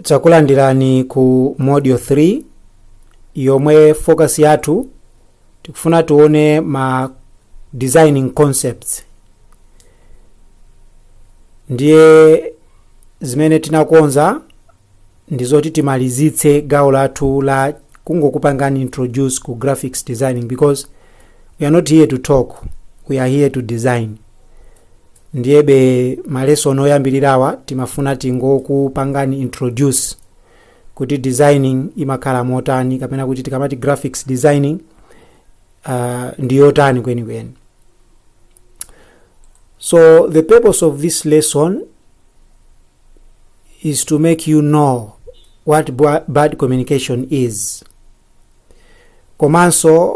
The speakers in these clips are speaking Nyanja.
takulandirani ku module 3 yomwe focus yathu tikufuna tione ma designing concepts ndiye zimene tinakonza ndi zoti timalizitse gawo lathu la kungokupangani introduce ku graphics designing because we are not here to talk we are here to design ndiyebe malesson oyambirirawa timafuna tingokupangani introduce kuti designing imakhala motani kapena kuti tikamati graphics designing uh, ndi yotani kwenikweni so the purpose of this lesson is to make you know what ba- bad communication is komanso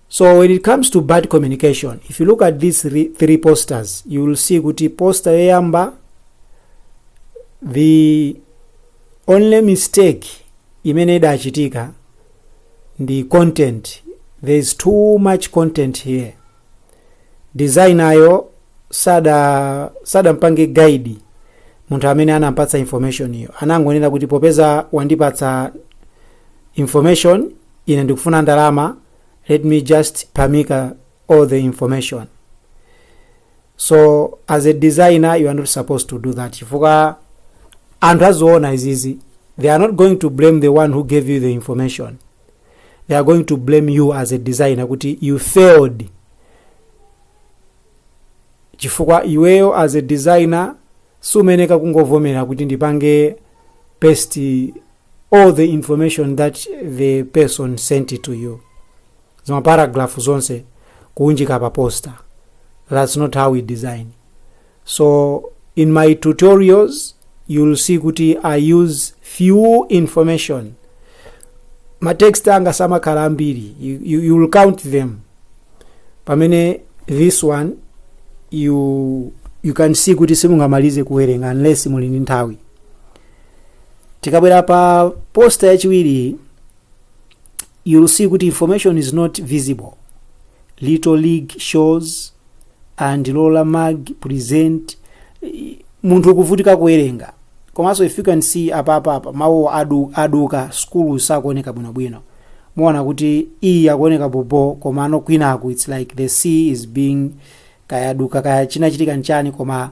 So when it comes to bad communication, if you look at these three, three posters, you will see kuti poster yoyamba the only mistake imene idachitika ndi content there is too much content here designer yo sada sadampange guide munthu amene anampatsa information iyo anangonena kuti popeza wandipatsa information ine ndikufuna ndalama let me just pamika all the information so as a designer you are not supposed to do that chifukwa anthu aziona izizi they are not going to blame the one who gave you the information they are going to blame you as a designer kuti you failed chifukwa iweyo as a designer sumeneka kungovomera kuti ndipange paste all the information that the person sent it to you zimaparagraph zonse kuunjika pa poster that's not how we design so in my tutorials you'll see kuti i use few information matext anga samakhala ambiri you, you, you'll count them pamene this one you, you can see kuti simungamalize kuwerenga unless muli ndi nthawi tikabwera pa posta yachiwiri you'll see kuti information is not visible little league shows and lola mag present i- munthu ukuvutika kuwerenga komanso if you can see apapapa mawu adu, aduka school sakuoneka bwinobwino muona kuti iyi ikuoneka bobo komano kwinaku it's like the C is being kayaduka kaya chinachitika nchani koma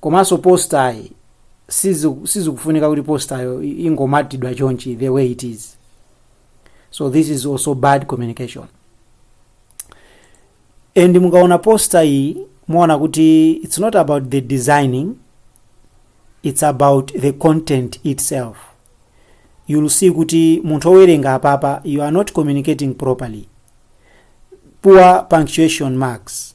komanso postayi siziku- sizikufunika kuti postayo i- ingomatidwa chonchi the way it is so this is also bad communication and mukaona posta iyi muona kuti it's not about the designing it's about the content itself you'll see kuti munthu owerenga apapa you are not communicating properly poor punctuation marks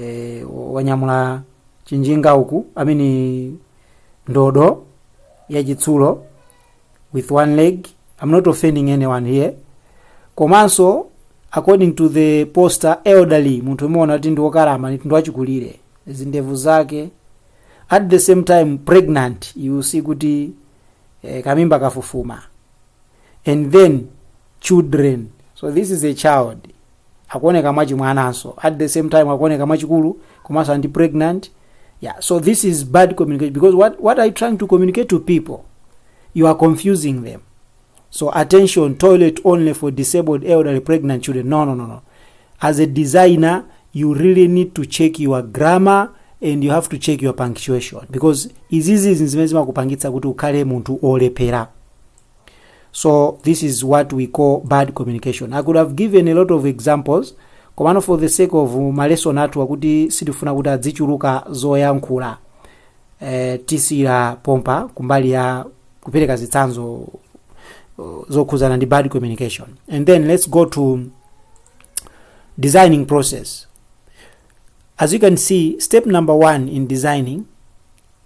e, wanyamula chinjinga uku ameneyo ndodo yachitsulo with one leg i'm not offending anyone here komanso according to the poster elderly munthu umaona kuti ndi wokalamba ndi wachikulire zindevu zake at the same time pregnant you see kuti eh, kamimba kafufuma and then children so this is a child akuoneka mwachimwananso at the same time akuoneka mwachikulu komanso ndi pregnant yeah so this is bad communication because what, what are you trying to communicate to people you are confusing them so attention toilet only for disabled elderly pregnant children no no no no as a designer you really need to check your grammar and you have to check your punctuation because izizi zimene zimakupangitsa kuti ukhale munthu olephera so this is what we call bad communication i could have given a lot of examples komano for the sake of malesson athu akuti sitifuna kuti adzichuluka zoyankhula eh, tisiira pompa kumbali ya kupereka zitsanzo uh, zokhuzana ndi bad communication and then let's go to designing process as you can see step number one in designing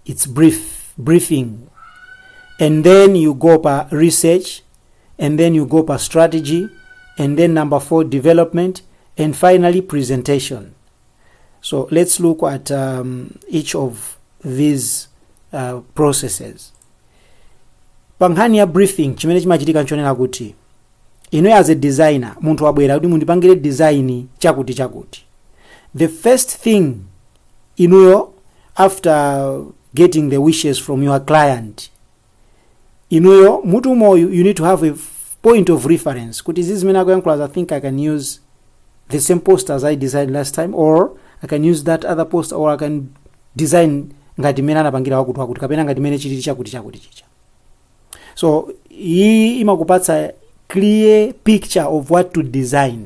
it's brief briefing and then you go pa research and then you go pa strategy and then number four development and finally presentation so let's look at um, each of these uh, processes pa nkhani ya briefing chimene chimachitika nchonena kuti inuyo as a designer munthu wabwera kuti mundipangire design chakuti chakuti the first thing inuyo after getting the wishes from your client inuyo m'mutu umo you need to have a f- point of reference kuti izi zimene akuyankhula i think i can use the same poster as i designed last time or i can use that other poster or i can design ngati mmene anapangira wakuti wakuti kapena ngati mmene chilili chakuti chakuti chicha so iyi imakupatsa clear picture of what to design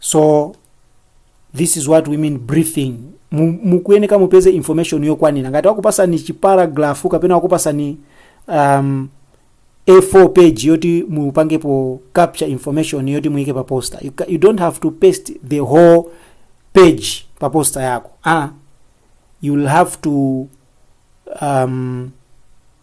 so this is what we mean briefing Mu- mukuyeneka mupeze information yokwanira ngati wakupasani chiparagrafu kapena wakupasani um, a4 page yoti mupangepo capture information yoti muyike pa poster you, ca- you don't have to paste the whole page pa poster yako ah, you'll have to um,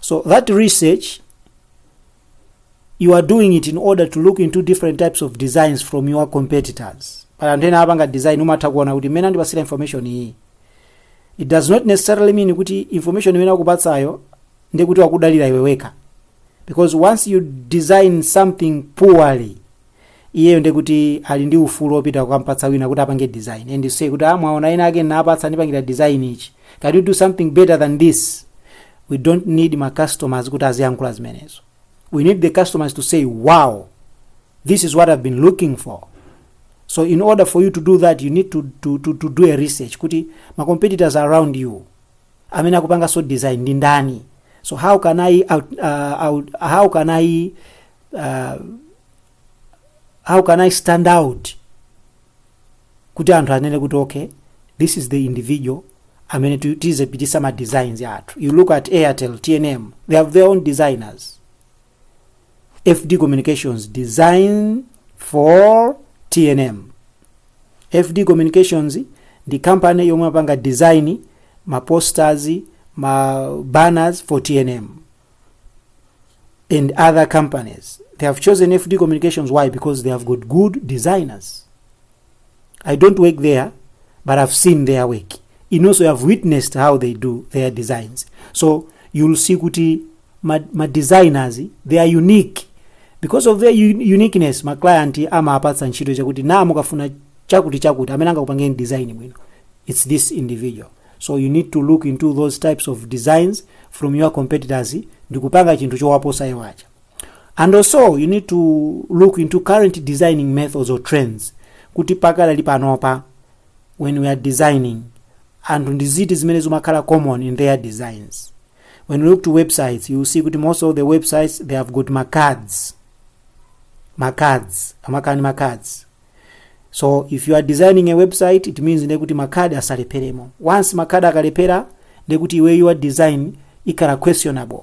So that research you are doing it in order to look into different types of designs from your competitors. Pali anthu ena apanga design umatha kuona kuti mmene andipasira information iyi. It does not necessarily mean kuti information imene akupatsayo ndiye kuti wakudalira iwe wekha. Because once you design something poorly, iyeyo ndiye kuti ali ndi ufulu wopita kukampatsa wina kuti apange design and say kuti ah mwaona ena ake ndinapatsa andipangira design ichi can you do something better than this we don't need ma customers kuti aziyankhula zimenezo we need the customers to say wow this is what i've been looking for so in order for you to do that you need to, to, to, to do a research kuti ma competitors around you amene akupanganso design ndi ndani so how can i out, uh, out, how can i uh, how can i stand out kuti anthu anene kuti okay this is the individual amene tu- tizipitisa ma designs yathu you look at airtel tnm they have their own designers fd communications design for tnm fd communications ndi company yomwe amapanga design ma posters ma banners for tnm and other companies. They have chosen FD Communications. Why? Because they have got good designers. I don't work there, but I've seen their work. And also, I've witnessed how they do their designs. So you'll see kuti ma, ma designers they are unique because of their un- uniqueness. Ma client amapatsa ntchito chakuti na mukafuna chakuti chakuti amene angakupangeni design bwino. It's this individual. so you need to look into those types of designs from your competitors ndikupanga chinthu chowaposa iwo aja and also you need to look into current designing methods or trends kuti pakadali panopa when we are designing zinthu ndi ziti zimene zimakhala common in their designs when you look to websites you'll see kuti most of the websites they have got macards macards amakhala ndi macards so if you are designing a website it means ndekuti makhadi asalepheremo once makhadi akalephera ndekuti iwe your design ikhala questionable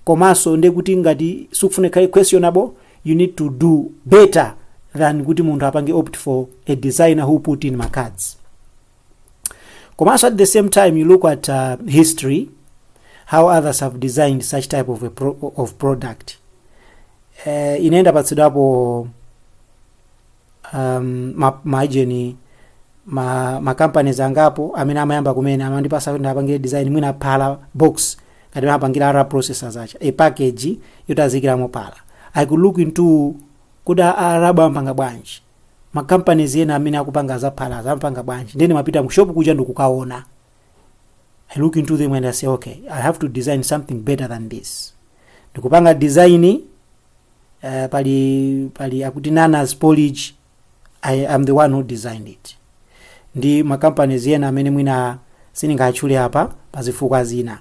komanso ndekuti ngati sukufuna ikhale questionable you need to do better than kuti munthu apange opt for a designer who put in macards komanso at the same time you look at uh, history how others have designed such type of, a pro of product uh, ine ndapatsidwapo um, ma, ma agent ma, ma companies angapo amene amayamba kumene amandipasa kuti ndiwapangire design mwina phala box ngati amapangira a rab processors ija a package yoti azikiramo phala i could look into kuti a- a- a rab amapanga bwanji ma companies ena amene akupanga za phala amapanga bwanji nde ndimapita mu shop kuja ndikukaona i look into them and i say okay i have to design something better than this ndikupanga design uh, pali pali akuti nanas porridge i am the one who designed it ndi makampanies ena amene mwina sindingatchule apa pazifukwa zina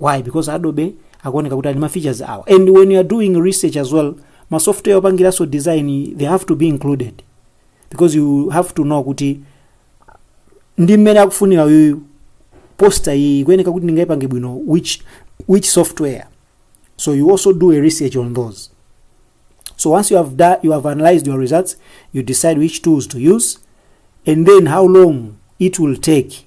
why because adobe akuoneka kuti ali ma features awa and when you are doing research as well ma software opangiranso design they have to be included because you have to know kuti ndi mmene akufunira uyu poster iyi ikuyeneka kuti ndingayipange bwino which, which software so you also do a research on those so once you have, da, you have analyzed your results you decide which tools to use and then how long it will take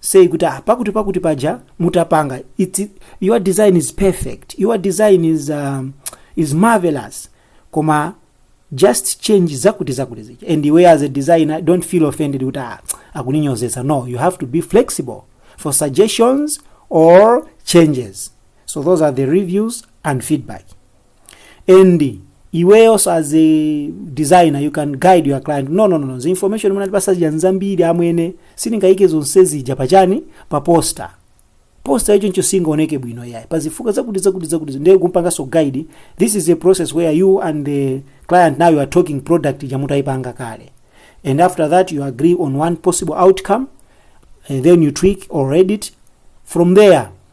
say kuti ah, pakuti pakuti paja mutapanga it's, your design is perfect your design is, um, is marvelous koma just change zakuti zakuti zija and iwe as a designer don't feel offended kuti ah, akuninyozetsa no you have to be flexible for suggestions or changes so those are the reviews and feedback and iweyonso as a designer you can guide your client no no no, no. the information imene mwatipasa zija nzambiri amwene sindingayike zonse zija pachani pa poster poster yo choncho singaoneke bwino yayi pazifukwa zakuti zakuti zakuti ndiye kumpanganso guide this is a process where you and the client now you are talking product ija mutayipanga kale and after that you agree on one possible outcome and then you tweak or edit from there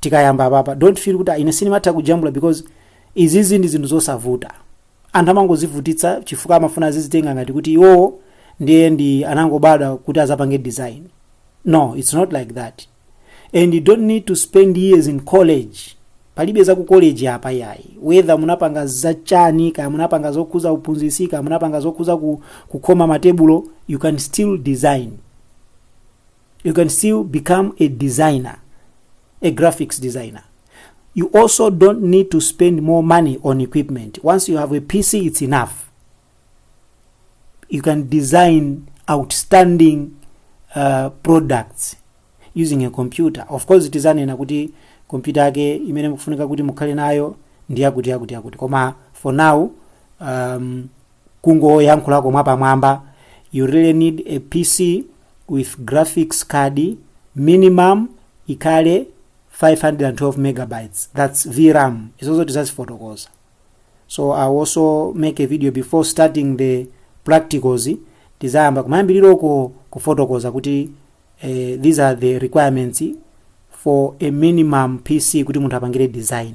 tikayamba apapa don't feel kuti "Ah, ine sindimatha kujambula because izizi ndi zinthu zosavuta anthu amangozivutitsa chifukwa amafuna azizitenga ngati kuti iwowo ndiye ndi anangobadwa kuti azapange design no it's not like that and you don't need to spend years in college palibe za ku college apa yayi whether munapanga zachani kaya munapanga zokhuza uphunzitsi kaya munapanga zokhuza ku, kukhoma matebulo you can still design you can still become a designer a graphics designer you also don't need to spend more money on equipment once you have a pc it's enough you can design outstanding uh, products using a computer of course tizanena kuti computer yake imene mukufunika kuti mukhale nayo ndi yakuti yakuti yakuti koma for now um, kungoyankhulako mwapamwamba you really need a pc with graphics card minimum ikhale 512 megabytes that's vram izozo tizazifotokoza so i'll also make a video before starting the practicals tizayamba kumayambiriroko kufotokoza kuti eh, these are the requirements for a minimum pc kuti munthu apangire design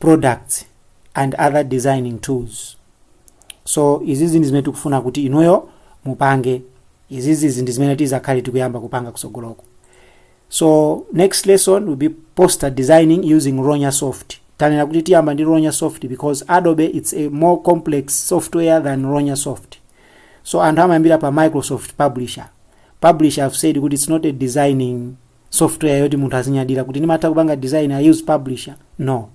products and other designing tools so izizi ndi zimene tikufuna kuti inuyo mupange izizi ndi zimene tizakhale tikuyamba kupanga kusogoloko so next lesson will be poster designing using ronya soft tanena kuti tiyamba ndi ronya soft because adobe it's a more complex software than ronya soft so anthu amayambira pa microsoft publisher publisher i've said kuti it's not a designing software yoti munthu azinyadira kuti ndimatha kupanga design i use publisher no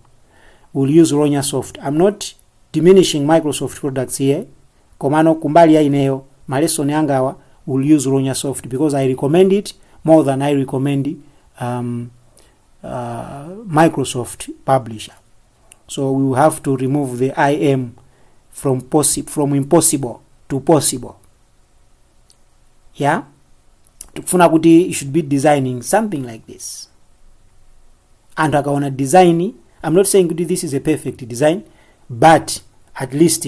will use ronya soft i'm not diminishing microsoft products here komano kumbali ya ineyo malesoni angawa will use ronya soft because i recommend it more than i recommend um, uh, microsoft publisher so we have to remove the im from, possi from impossible to possible yeah tikufuna kuti you should be designing something like this anthu akaona design i'm not saying kuti this is a perfect design but at least